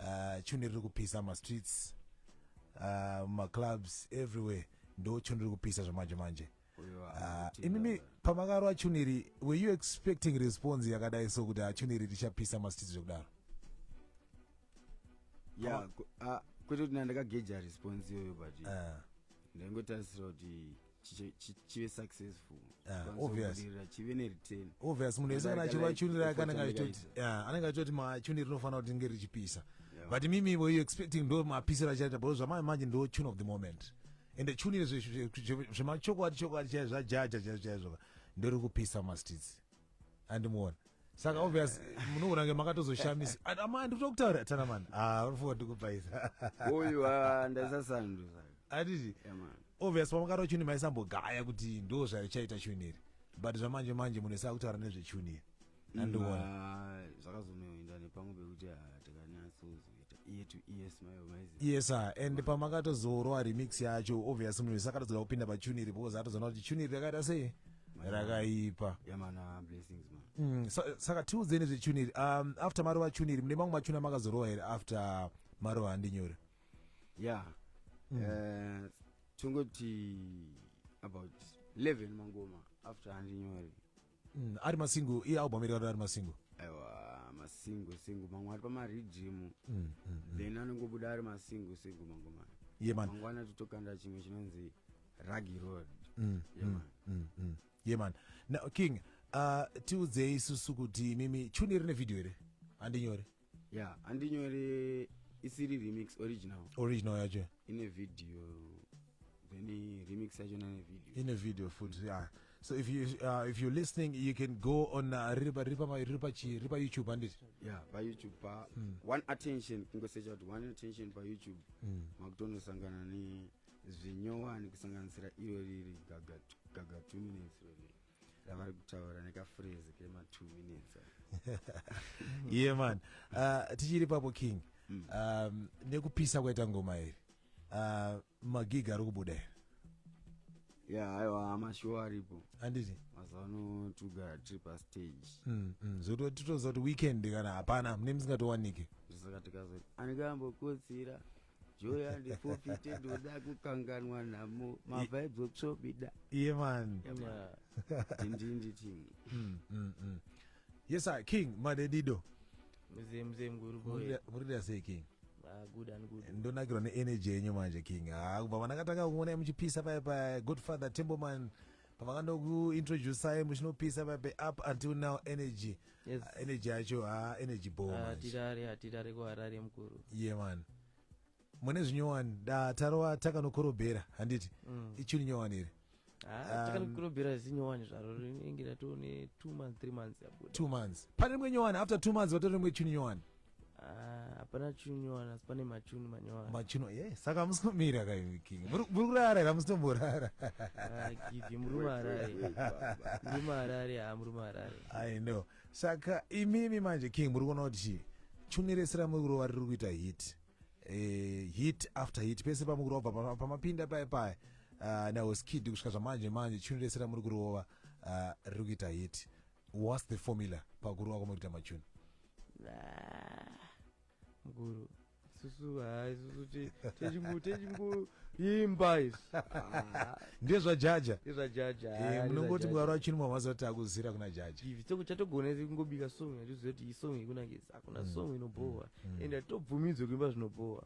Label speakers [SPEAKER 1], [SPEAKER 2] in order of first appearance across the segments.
[SPEAKER 1] uh, tune riri kupisa mastreets uh, mumaclubs everywhere ndo tune riri kupisa zvamanje manje Uyo uh, anoti- imimi pamakarwa tune iri were you expecting response yakadai so kuti ah, tune iri richapisa mastreets zvekudaro
[SPEAKER 2] ya ku- ah, kwete kuti ndandakageja response iyoyo but Ah, ndaingotarisira kuti chive successful ah, obviousbudirira
[SPEAKER 1] chive nereturn
[SPEAKER 2] obvious munhu wese kana
[SPEAKER 1] achivachunira akanenge achitoti anenge achitoti machuniri rinofanira kuti nge richipisa but mimi were you expecting ndo mapisiro achaita because zvamai manje ndo tune of the moment ende chunire zvemachokwadi chokwadi chaizvo zvajaja chaizvo chaizvo ndori kupisa mastits andimuona saka obvious munoona kunge makatozoshamisa amai ndikuda kutaura tana mani ah, unofunga ndikupaisa uyu ah,
[SPEAKER 2] ndaisasandu atiti
[SPEAKER 1] obvious pamakati wachuni maisambogaya kuti ndo zvaichaita chuni iri but zvamanje manje munhu esaa kutaura nezvechuni iri andiona mm, ah, zvakazonoenda
[SPEAKER 2] nepamwe pekuti ah, tikanyatsozo yes sir and
[SPEAKER 1] pamakatozorowa remix yacho obvious munhu wese akatozoda kupinda pachuni iri because atozoona kuti chuni iri rakaita sei rakaipa mm,
[SPEAKER 2] saka tiudzeni
[SPEAKER 1] zvechuni iri um, after marova chuni iri mune mamwe machuni amakazorowa here after marova handinyore ya
[SPEAKER 2] mm. eh, tongoti about 11 mangoma after handinyore Mm, ari
[SPEAKER 1] masingu iye album iri ari masingu aiwa
[SPEAKER 2] masingu singu mamwe ari pamarijimu mm, mm, mm. then anongobuda ari masingu singu mangomana ye man mangwana
[SPEAKER 1] totokanda chimwe
[SPEAKER 2] chinonzi ragi road mm, ye mm, man mm, mm. ye
[SPEAKER 1] man now king uh, tiudzei isusu kuti mimi chuni rine video here handinyore ya
[SPEAKER 2] andinyore isiri remix original original yacho ine
[SPEAKER 1] video
[SPEAKER 2] then remix yacho nane video ine video futi
[SPEAKER 1] ya so if you uh, if you're listening you can go on uh, riri pa- riri pa- riri pa chi- riri pa youtube handiti ya payoutube pa
[SPEAKER 2] one attention kungosecha kuti one attention payoutube makutonosangana ne zvinyowani kusanganisira iro riri gaga gaga two minutes iro riri avari kutaura nekafrezi kema two minutes
[SPEAKER 1] ye man uh, tichiri papo king mm. um, nekupisa kwaita ngoma iri uh, magig ari kubuda iri
[SPEAKER 2] ya aiwa amashow aripo anditi mazuva
[SPEAKER 1] ano
[SPEAKER 2] tugara tiri pastage mm, mm. zvoto titoziva
[SPEAKER 1] kuti weekend kana hapana mune musingatowanike zvisaka tikazoti
[SPEAKER 2] anenge ambokotsira joy andifofite ndoda kukanganwa nhamo mavibes oksobida iye mani
[SPEAKER 1] ndindindi
[SPEAKER 2] tim mm, mm,
[SPEAKER 1] mm. yes sir king madedido mzee mzee
[SPEAKER 3] mkuru boy murida sei king
[SPEAKER 1] Ah, good and
[SPEAKER 3] good ndonakirwa neenergy yenyu
[SPEAKER 1] manje king Ah, kubva vanakatanga kuona muchipisa paya pa godfather temboman pavakanokuintroducai muchinopisa vabe up until now energy yes. uh, energy
[SPEAKER 3] yacho ha
[SPEAKER 1] uh, energy bohatirare hatirare
[SPEAKER 3] kuharare mukuru ye yeah, man
[SPEAKER 1] mune zvinyowani da tarova takanokorobhera handiti mm. ichuni nyowani iri ah, takanokorobhera
[SPEAKER 3] um, zinyowani zvaro rinenge ratone two months three months yabuda two months pane rimwe
[SPEAKER 1] nyowani after two months vatore rimwe chuni nyowani Ah, hapana
[SPEAKER 3] chuni wana asi pane machuni manyowara machino ye saka hamusi
[SPEAKER 1] kumira kaiviking muri muri kurara here hamusi tomborara Ah, givhi
[SPEAKER 3] murume harare murume harare haa murume harare i know
[SPEAKER 1] saka imimi manje king muri kuona kuti chii chuni rese ramuri kurova riri kuita hit eh, hit after hit pese pamuri kurova pama- pamapinda paye paye uh, naoskid kusvika zvamanje manje chuni rese ramuri kurova uh, riri kuita hit whats the formula pakurova kwamuri kuita machuni
[SPEAKER 3] mukuru susu hai susu techingoimba isu
[SPEAKER 1] ndezvajaja ndezvajaja
[SPEAKER 3] munongoti mwari wachinwa
[SPEAKER 1] mazuva kuti akuzira kuna jaja ivi toko chatogona
[SPEAKER 3] kungobika song yatiziva kuti isong ikunakisa hakuna mm. song inobhowa mm. ende hatitobvumidzwe
[SPEAKER 1] kuimba
[SPEAKER 3] zvinobhowa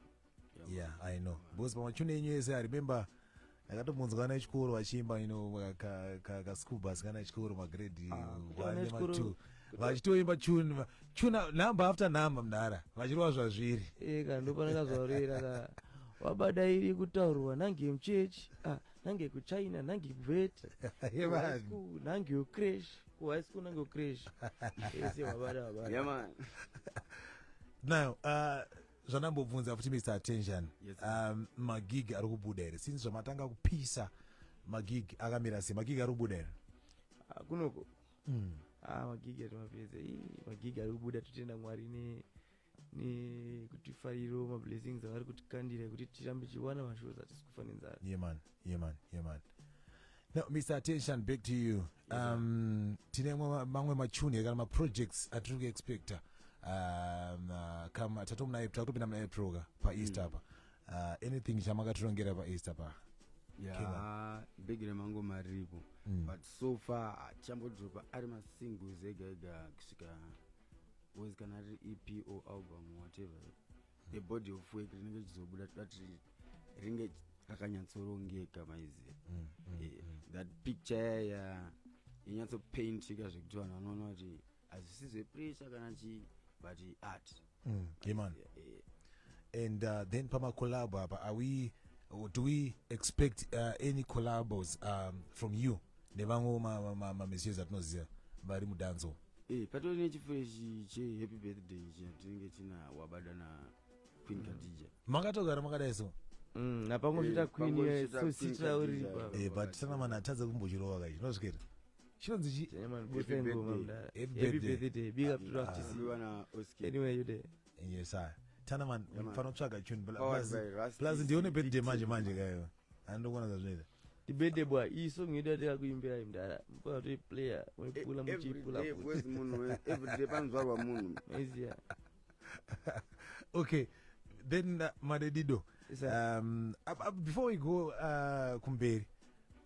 [SPEAKER 1] yeah i know because
[SPEAKER 3] pamachune
[SPEAKER 1] enyu ese i remember ndakatombonzwa ana echikoro vachiimba ino kaschool bus kana echikoro magrade ah, one nematwo vachitoimba tune tune number after number mdara vachirova zvazviri eka eh, ndopanaka
[SPEAKER 3] zvaurira ka wabada iri kutaurwa nange muchechi ah, nange kuchina nange kuvet nange ucrash kuhigh school nange ucrash ese wabada wabada
[SPEAKER 1] now uh, zvandambobvunza futi mr attention yes, um,
[SPEAKER 2] magig
[SPEAKER 1] ari kubuda here since zvamatanga kupisa magig akamira sei magig ari kubuda here ah, kunoko
[SPEAKER 3] mm. ah, magig atimapedza magig ari kubuda totenda mwari ne nekuti fariro mablessings avari kutikandira kuti tirambe tichiwana mashows atisi kufa nenzara yeah, yeah man
[SPEAKER 1] yeah man no mr attention back to you um tine mamwe- mamwe machuni kana maprojects atiri kuexpecta um, uh, kam tatomunaye tatopinda muna april ka paeast apa uh, anything chamakatirongera paeast apa ya
[SPEAKER 2] big remango maripo but so far chambodropa ari masingles ega ega kusvika was kana ari ep or album whatever the body of work rinenge richizobuda toda tiri ringe rakanyatsorongeka maiziva mm, mm, eh, mm. that picture yaya yanyatsopaintika zvekuti vanhu vanoona kuti hazvisi zvepressure kana chii but art mm, yeman yeah,
[SPEAKER 1] yeah. and uh, then pamacollabo apa are we do we expect uh, any collabos um, from you nevamwewo mamiziyezi ma, ma, ma, atinoziva vari mudanzo Eh, patori
[SPEAKER 2] nechifreshi chehappy birthday ichi tinenge tina wabada na queen mm. kadija makatogara makadai
[SPEAKER 1] so mm, napangosvita
[SPEAKER 3] eh, queen eh, sositra uri eh, but tana mana
[SPEAKER 1] atadza kumbochirova kai zvinosvikira chinonzi chi
[SPEAKER 3] yes i
[SPEAKER 1] tana man fanotsvaga tune plus ndione birthday manje manje kayo andokona zvazvinoita dibede bwa
[SPEAKER 3] iyi song yedu yataka kuimbirai mdara mukatoi player waipula muchiipulaeveryday
[SPEAKER 2] panzwarwa munhu maiziya
[SPEAKER 1] okay then uh, madedido um, before we go uh, kumberi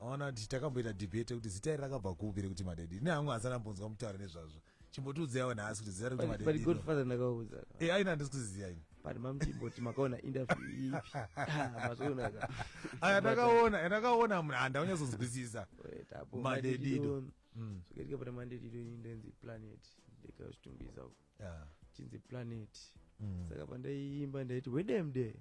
[SPEAKER 1] aona kuti takamboita debate kuti zita iri rakabva kupi rekuti madedi ne hangu asana mbonzwa mutaure nezvazvo chimbotiudzaiwo nhasi kuti zera rekuti madedii but godfather ndakauza
[SPEAKER 3] e eh, aina handisi kuziziva
[SPEAKER 1] ini but mamchimboti
[SPEAKER 3] makaona interview ipi ah, mazvionaka aya ndakaona
[SPEAKER 1] yandakaona eh, munhu handaunyazonzwisisa madedido zvakatika
[SPEAKER 3] pana madedido ini ndenzi planet ndikazvitumbisa uko chinzi planet mm. saka pandaiimba ndaiti wedemde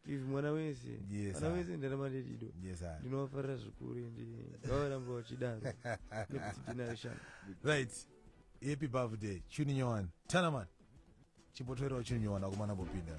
[SPEAKER 1] Steve mwana wese
[SPEAKER 3] Yes, mwana sir. wese ndarama ndirido Yes, sir. ndinovafarira zvikuru ende vavaramba vachidaro nekuti ndinayo shanga right
[SPEAKER 1] happy birthday chuni nyowani tana mani chimbotoerawo chuni nyowani akomana bopinda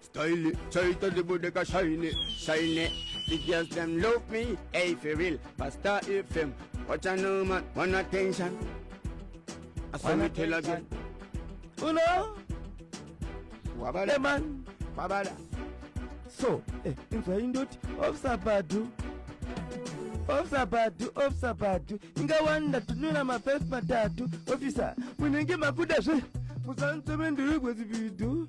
[SPEAKER 2] Style, chaita ndibudeka shine, shine The girls them love me, hey for real Pastor FM, watch a no man, one attention I saw me tell again Uno Wabala man,
[SPEAKER 3] wabala
[SPEAKER 2] So,
[SPEAKER 3] eh, inzwa indoti, ofsa badu ofisa badu ofisa badu ingawanda tunula mafesi matatu ofisa munenge makuda zve musanzome ndiri kwezividu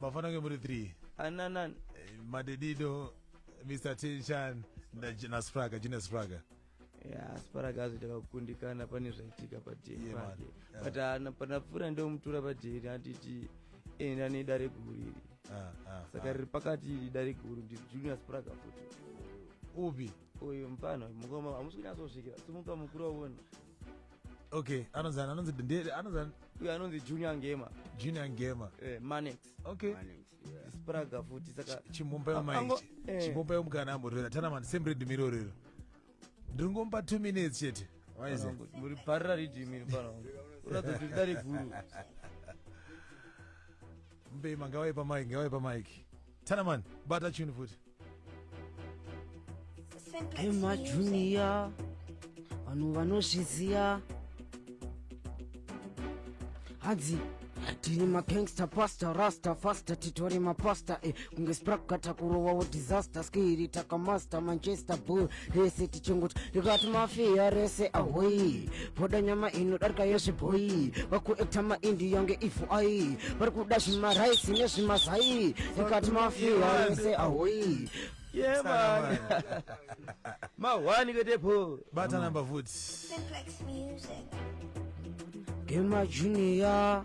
[SPEAKER 3] mafana kunge muri
[SPEAKER 1] 3 ananani eh,
[SPEAKER 3] madedido
[SPEAKER 1] mr tinchan naspraga junior spraga ya
[SPEAKER 3] spraga azoita kakukundikana pane zvaitika padheri pake but
[SPEAKER 1] ana
[SPEAKER 3] panapfuura ndomutura padheri anditi enda eh, nedare guru iri ah, ah, saka ah. riri pakati iri dare guru ndi junior spraga futi upi
[SPEAKER 1] uyu mfana
[SPEAKER 3] mukoma hamusi kunyatsosvikira simuka mukuru wavona okay
[SPEAKER 1] anonzi anonzi ndere anonzi uyo
[SPEAKER 3] anonzi junior ngema junior ngema
[SPEAKER 1] eh manex okay
[SPEAKER 3] manex
[SPEAKER 1] yeah. spraga
[SPEAKER 3] futi saka chimumba yamaiti
[SPEAKER 1] eh. chimumba
[SPEAKER 3] yomukana
[SPEAKER 1] amurera tana man same read miro rero ndringomba 2 minutes chete waize muri parira read
[SPEAKER 3] miro pano uratsa kuti dare guru
[SPEAKER 1] mbema ngawai pa mic ngawai pa mic tana man bata chini futi
[SPEAKER 4] emajuniya vanhu vanozviziya hanzi tiri magangster pasta rasta fasta titori mapasta e eh, kunge sprakgata kurovawo disaster skiri takamaster manchester bull rese tichingoti rikati mafiya rese ahoyi voda nyama inodarika yezvibhoyi vakuekta maindi yange ifu ayi vari kuda zvimaraisi nezvimazai rikati mafiya rese ahoyi Yeah, man.
[SPEAKER 3] Mahwani ketepo. bata number futi
[SPEAKER 1] Simplex
[SPEAKER 5] Music.
[SPEAKER 4] gemajuniya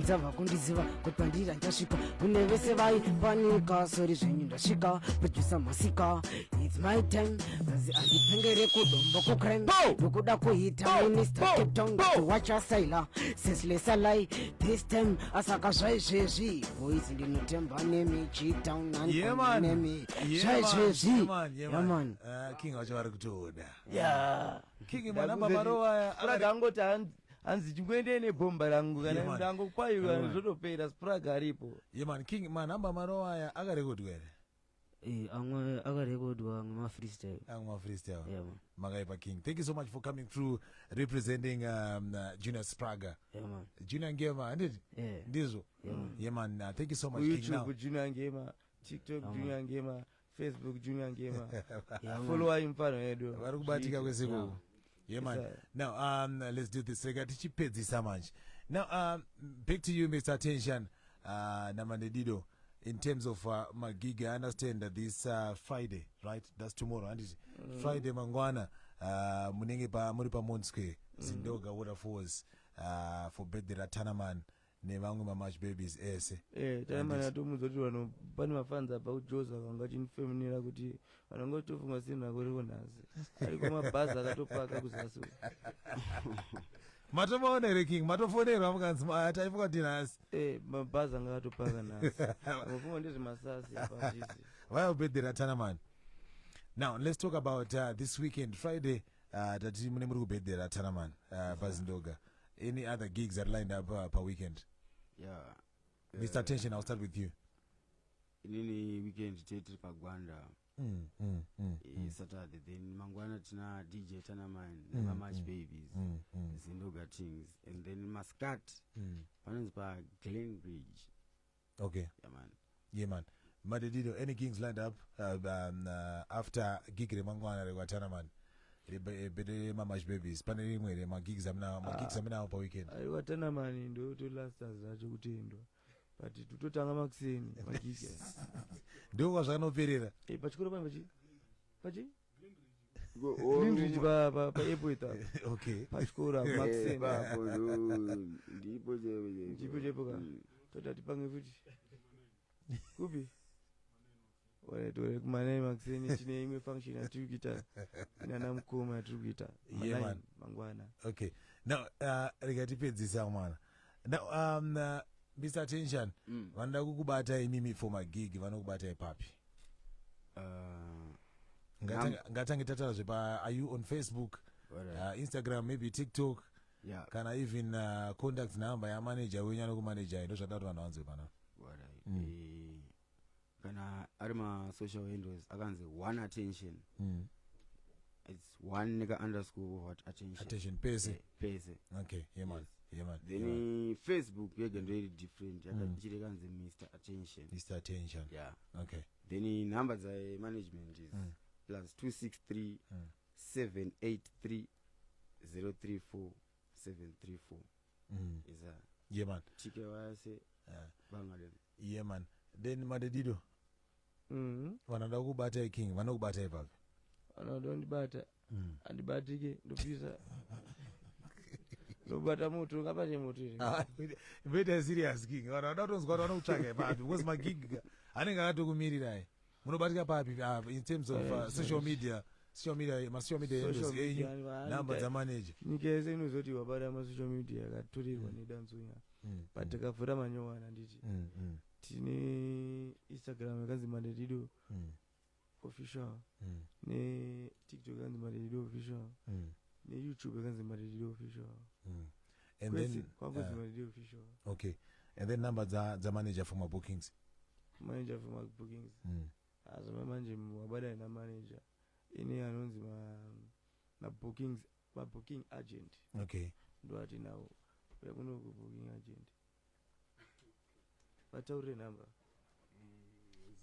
[SPEAKER 4] nzava kundiziva kuti pandiri handasvika kune vese vaipanika sori zvenyu ndasvika producer masika its my time kazi andipengere kudombo kucrim ndokuda kuhita minister cape town kuwacha saila seslesalai this time asaka zvaizvezvi boys ndinotemba nemi gtown anemi zvaizvezvi yaman king vacho vari
[SPEAKER 1] kutoda
[SPEAKER 3] king mwana
[SPEAKER 1] bamarowaya kuragangoti
[SPEAKER 3] hanzi chingoendei nebhomba rangu kana Yeah, man. ndangokwai Yeah,
[SPEAKER 1] man.
[SPEAKER 3] zvotopera sprag aripo ye man king manhamba
[SPEAKER 1] maro aya akarekodwa here Eh, amwe
[SPEAKER 4] akarekodwa amwe mafreestyle amwe mafreestyle Yeah,
[SPEAKER 1] man. makaipa
[SPEAKER 4] king thank you so
[SPEAKER 1] much for coming through representing um, uh, junior spraga Yeah, man. junior
[SPEAKER 4] ngema handiti
[SPEAKER 1] Yeah. ndizvo Yeah, man. ye man uh, thank you so much king now kuyoutube junior ngema
[SPEAKER 3] tiktok junior ngema facebook junior ngema followai
[SPEAKER 4] mfano yedu
[SPEAKER 3] vari kubatika kwese
[SPEAKER 1] ikoko yeah man
[SPEAKER 4] Sir.
[SPEAKER 1] now um
[SPEAKER 3] let's do
[SPEAKER 1] this rega tichipedzisa manje now um back to you mr tension uh namandedido in terms of uh, magig i understand that this uh, friday right that's tomorrow handiti mm. friday mangwana uh, munenge pa muri pamont square zindoga waterfalls uh, for birthday ratanaman nevamwe mamash babies ese eh taimana tomuudza
[SPEAKER 3] kuti vanhu pane mafanzi abva kujoza vanga chinifeminira kuti vanhu vanga vachitofunga sina kuriko nhasi ariko mabhazi akatopaka kuzasi
[SPEAKER 1] matomaona here king matofonerwa mukanzi maya taifunga kuti nhasi eh mabhazi anga
[SPEAKER 3] atopaka nhasi mufunga ndezvemasasi apazvisi vaya ubhedhera
[SPEAKER 1] tana mani now let's talk about uh, this weekend friday Ah, tati mune muri kubhedhera ra Tanaman ah, paZindoga. Any other gigs that lined up ah, pa weekend? Yeah.
[SPEAKER 2] Mr. Eh,
[SPEAKER 1] Tension, I'll start with you. Inini
[SPEAKER 2] weekend tete pagwanda. Mm, mm, mm, eh, mm. Saturday then mangwana tina DJ Tanaman mm, nema March mm, Babies mm, mm. Zindoga Things and then Maskat mm. panonzi pa Glen Ridge okay yeah man yeah
[SPEAKER 1] man madedino any kings lined up uh, um, uh, after gig remangwana rekwatana man bete mamash babies pane rimwe here magigs amunawo magigs ah. amunawo paweekend aiwatana mani
[SPEAKER 3] ndotolasta zvacho kutendwa but tototanga makuseni magigs ndiko
[SPEAKER 1] kwazvakanoperera eh, pachikoro pane pachi
[SPEAKER 3] pachi Greenridge pa pa pa airport apa. okay
[SPEAKER 1] Pachikora Eh, Maxim.
[SPEAKER 3] ipapo, oh,
[SPEAKER 2] ndipo chaipo chaipo. Ndipo
[SPEAKER 3] chaipo ka. Mm. Toti atipange futi. Kupi? Ore tore kumanai Maxim tine imwe function yatiri kuita. Inana mukoma yatiri kuita. Yeah, Manai, man.
[SPEAKER 1] Mangwana. okay
[SPEAKER 3] now
[SPEAKER 1] uh, rega tipedzisa mwana Now, um, uh, Mr. Tension, Mm. vanoda kukubata imimi for magig vanokubata ipapi? Uh, Ngatange ngatange tataura zvepa are you on Facebook, alright. uh, Instagram, maybe TikTok yeah, kana
[SPEAKER 2] even uh,
[SPEAKER 1] contact number yamanager wenyu anokumanejai ndozvadaro vanhu vanzwe pana. alright. Mm. Eh,
[SPEAKER 2] kana ari masocial handles akanzi one attention mm. its one neka underscore of what attention attention pese Eh,
[SPEAKER 1] pese okay yeah
[SPEAKER 2] man
[SPEAKER 1] yeah man then yeah, man. eh, facebook
[SPEAKER 2] yega ndoiri different yakachiri kanzi mr attention Mr. attention
[SPEAKER 1] yeah okay
[SPEAKER 2] then eh,
[SPEAKER 1] number
[SPEAKER 2] dzae management is Mm. plus 263 Mm. 783 034 734 mm. is a yeah man tike
[SPEAKER 1] vase yeah.
[SPEAKER 2] bangalem yeah man
[SPEAKER 1] then madedido mm -hmm. vanoda kukubatai king vanokubatai papi vanoda kundibata
[SPEAKER 3] mm. andibatike ndopisa lobata moto ngapate moto iri ah, vete serious
[SPEAKER 1] king vanhu vanoda kutonzwa kuti vanokutsvaga ipapi because magig anenge akatokumirirai munobatika papi uh, in terms of uh, social media social media masocial media endos enyu number dzamanager nyika yese inozoti
[SPEAKER 3] wabata masocial media yakaturirwa mm. nedanzunya mm, but mm. takavhura manyowana nditi mm, mm. tine instagram yakanzi mandedido mm. official mm. netiktok yakanzi mandedido official mm. neyoutube yakanzi mandedido official mm. and
[SPEAKER 1] Kwese, then kwangu zima riri official
[SPEAKER 3] uh, okay and
[SPEAKER 1] then number dza dza manager for my bookings manager for
[SPEAKER 3] my bookings mm. azvama manje wabadana namanager ine anonzi ma- mabookings mabooking agent okay
[SPEAKER 1] ndoati nawo
[SPEAKER 3] uya kuno kubooking agent vataurire number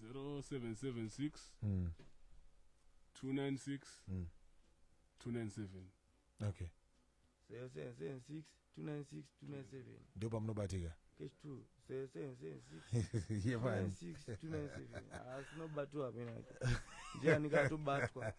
[SPEAKER 3] 0776
[SPEAKER 6] mm. 296 Mm. 297
[SPEAKER 1] okay 776 296 297
[SPEAKER 3] ndipo pamunobatika
[SPEAKER 1] cash 2 776 yevani 296 297
[SPEAKER 3] asi nobatwa amene ake ndiani katobatwa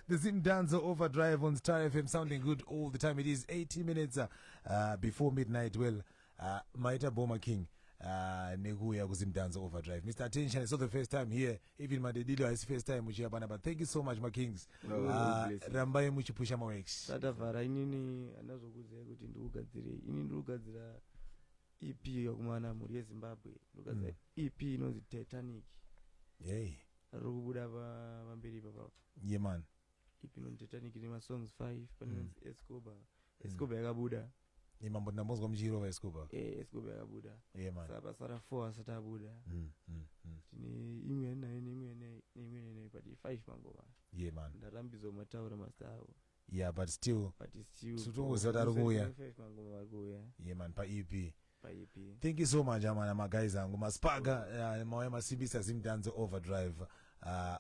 [SPEAKER 3] The
[SPEAKER 1] Zim Danzo Overdrive on Star FM sounding good all the time. It is 18 minutes uh, uh, before midnight. Well, uh, Maita Boma King. Uh, nekuuya kuzimdanzo overdrive mr attention it's not the first time here even madedilo haisi first time muchiya panapa thank you so much makings no, uh, ah, no, rambai muchipusha mawex satavhara inini
[SPEAKER 3] ana zvokuziva kuti ndikugadzirei ini ndiri kugadzira ep yakumana mhuri yezimbabwe ndikugadzira mm. ep inonzi titanic yei
[SPEAKER 1] ari kubuda
[SPEAKER 3] pamberi ipapa yeman yeah,
[SPEAKER 1] ipi inonzi titanic
[SPEAKER 3] ine masongs five pane inonzi mm. escoba mm. escoba yakabuda imambo ndambonzwa
[SPEAKER 1] muchiirova escoba eh, escoba yakabuda
[SPEAKER 3] sa pasara
[SPEAKER 1] four asati
[SPEAKER 3] abuda mm, tine imwe nayo neimwe neimwe neimwe but five mangoma ye man ndarambidzwa
[SPEAKER 1] mataura
[SPEAKER 3] mazita avo yeah but still
[SPEAKER 1] but still tiri kuuya ye man paep paipi thank you so much amana maguys angu maspaga uh, mauya masimbisa zimdanze overdrive uh,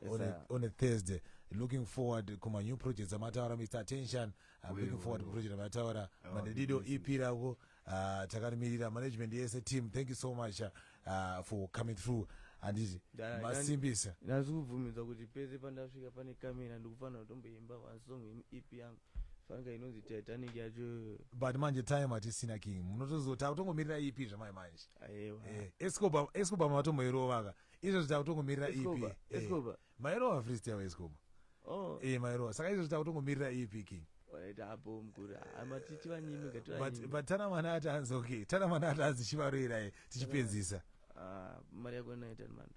[SPEAKER 1] Yes, on, a, sir. on a thursday looking forward kuma new projects amataura mr attention i'm Wewe, looking forward wewe. kuproject amataura Oh, manedido yes, ep rako uh, takarimirira management yese team thank you so much uh, for coming through anditi Da- masimbisa ndazikubvumidza
[SPEAKER 3] kuti pese pandasvika pane kamera ndikufanira kutomboimba one song yemu ep yangu fanga inonzi titanic yacho but manje time
[SPEAKER 1] hatisina king munotozota kutongomirira ep zvamai manje eh, escoba
[SPEAKER 3] escoba
[SPEAKER 1] matomboirovaka izvozvo takutongomirira ep escoba eh, mairova frist yavo escoba oh.
[SPEAKER 3] e eh, mairova
[SPEAKER 1] saka izvozvo takutongomirira ep king
[SPEAKER 3] but tana mwana
[SPEAKER 1] ati anzi okay tana mwana ati anzi chivaroirai tichipedzisa ah, mari
[SPEAKER 3] yako inoita mando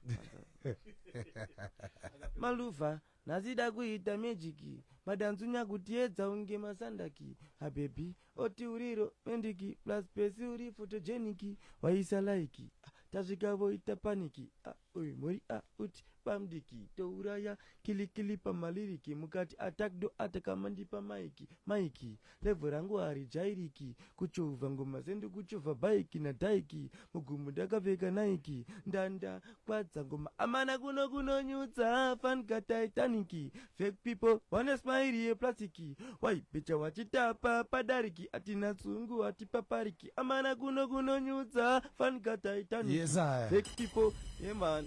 [SPEAKER 3] maluva Nhasi dakuita magic madanzunya kutiedza unge masandaki hababy oti uri romantic plus pesi uri photogenic waisa like ah, tasvika voita panic ah, uyu mhuri ah, uti bamdiki touraya kilikili pamaliriki mukati attack do ataka mandipa maiki maiki Level rangu harijairiki Kuchovha ngoma sendi kuchovha bike na dyke Mugumbo ndakapfeka Nike Ndanda kwadza ngoma Amana kuno kunonyudza Fan ka Titanic Fake people vane smile ye plastic Why becha wachitapa padariki Atina tsungu hatipapariki Amana kuno kunonyudza Fan ka Titanic Yes, I. Fake people Yeah man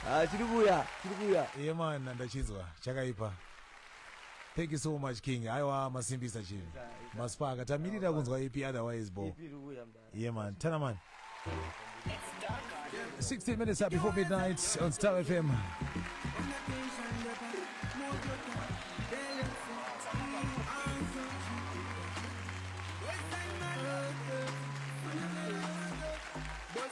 [SPEAKER 3] Ah, chiri kuuya chiri kuuya Ye man
[SPEAKER 1] ndachinzwa chakaipa. Thank you so much King. Aiwa masimbisa chinhu. Maspaka tamirira kunzwa EP otherwise bo. Yeah man, tana man. 16 minutes up before midnight on Star FM.